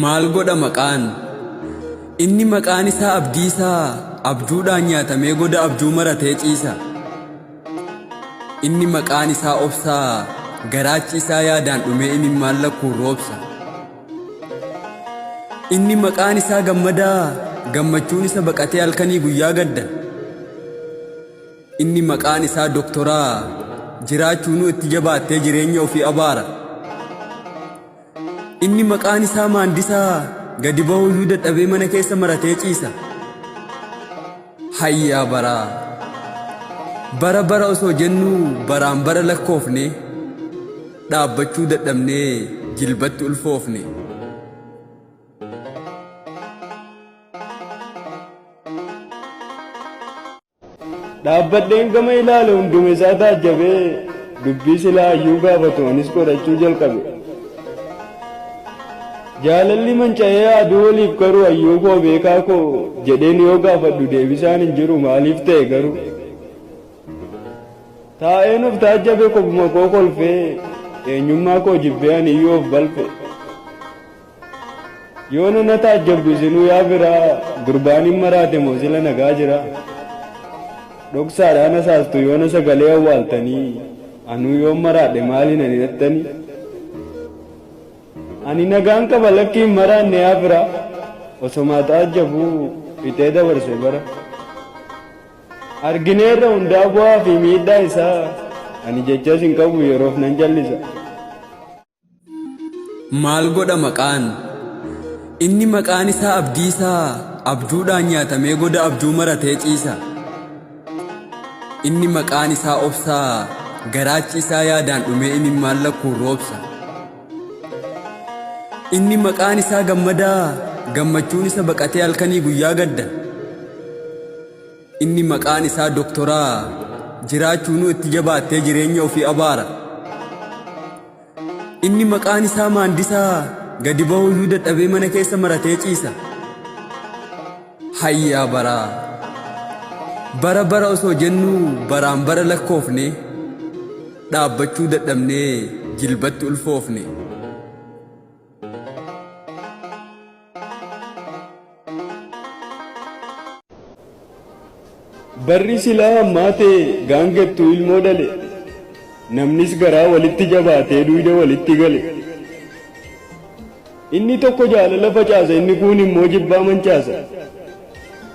Maal godha maqaan? Inni maqaan isaa Abdiisaa abjuudhaan nyaatamee goda abjuu maratee ciisa. Inni maqaan isaa obsaa garaachi isaa yaadaan dhumee imimmaan lakkuun roobsa. Inni maqaan isaa gammadaa gammachuun isa baqatee halkanii guyyaa gadda. Inni maqaan isaa doktoraa jiraachuunuu itti jabaattee jireenya ofii abaara. Inni maqaan isaa maandisaa gadi ba'uu iyyuu dadhabee mana keessa maratee ciisa. Hayyaa baraa! Bara bara osoo jennuu baraan bara lakkoofne dhaabbachuu dadhabnee jilbatti ulfoofne. Dhaabbadheen gama ilaale hunduma isaa taajjabee dubbii silaa hayyuu gaafatu anis qorachuu jalqabe. Jaalalli manca'ee aduu waliif garuu hayyuu koo beekaa koo jedheen yoo gaafadhu deebisaan hin jiru maaliif ta'e garuu. Taa'een of taajjabe kophuma koo kolfee eenyummaa koo jibbee ani iyyuu of balfe. Yoona na taajjabdu isinuu yaa firaa gurbaan hin maraate moo sila nagaa jira? Dhoksaadhaan hasaastu yoona sagalee awwaaltanii anuu yoon maraadhe maaliin ani dhattani? Ani nagaan qaba lakki hin maraanne yaa firaa osomaa taajjabuu fixee dabarse bara. Argineerra hundaa bu'aa fi miidhaa isaa ani jechas hin qabu yeroof nan jallisa. Maal godha maqaan? Inni maqaan isaa abdiisaa abjuudhaan nyaatamee goda abjuu maratee ciisa. Inni maqaan isaa obsaa garaachi isaa yaadaan dhumee imimmaan lakkuun roobsa. Inni maqaan isaa gammadaa gammachuun isa baqatee halkanii guyyaa gadda. Inni maqaan isaa doktoraa jiraachuunuu itti jabaattee jireenya ofii abaara. Inni maqaan isaa maandisaa gadi bahuyyuu dadhabee mana keessa maratee ciisa. Hayyaa baraa! Bara bara osoo jennuu baraan bara lakkoofne dhaabbachuu dadhabnee jilbatti ulfoofne. Barri silaa hammaa ta'e gaangettuu ilmoo dhale. Namnis garaa walitti jabaatee duuda walitti gale. Inni tokko jaalala facaasa inni kuun immoo jibbaa mancaasa.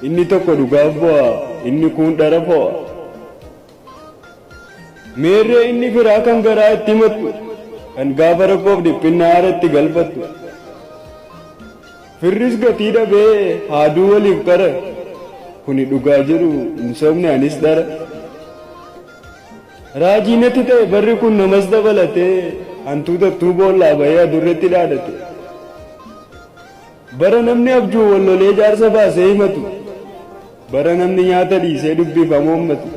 Inni tokko dhugaaf bu'a inni kuun dhara fo'a. Meerree inni firaa kan garaa itti himattu, kan gaafa rakkoof dhiphinnaa haara itti galfattu. Firris gatii dhabee haaduu waliif qara, kuni dhugaa jiru hin sobne anis dhara. Raajii natti ta'e barri kun namas dabalatee hantuutattuu boollaa bahee adurretti dhaadate. Bara namni abjuun wal lolee jaarsa baasee himatu, bara namni nyaata dhiisee dubbiif hamoommatu.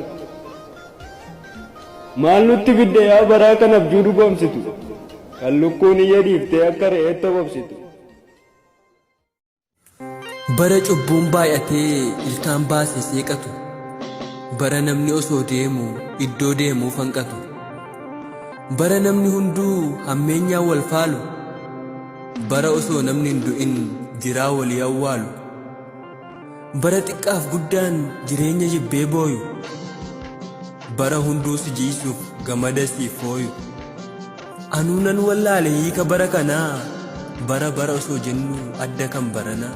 Maal nutti fidde yaa baraa kan abjuu dhugoomsitu, kan lukkuun iyya dhiiftee akka re'eetti hobobsitu. Bara cubbuun baay'atee ilkaan baasee seeqatu, bara namni osoo deemu iddoo deemuuf hanqatu. Bara namni hunduu hammeenyaan wal faalu. Bara osoo namni hin du'in jiraa walii awwaalu. Bara xiqqaaf guddaan jireenya jibbee booyu. Bara hunduu si jiisuuf gamada siif fooyu. Anuu nan wallaale hiika bara kanaa bara bara osoo jennu adda kan baranaa.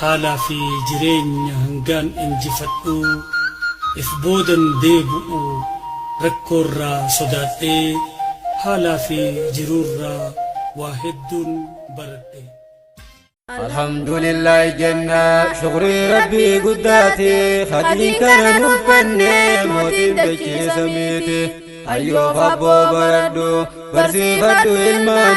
Haalaa fi jireenya hangaan injifadhuu if boodan deebu'u rakkoorraa sodaadhee haalaa fi jiruurraa waa hedduun baradhe. Alhamdulillahi jenna shukrii rabbii guddaati khadrii kana nuuf kenne mootiin dachee samiiti hayyoof abboo baradhu barsiifadhu ilmaan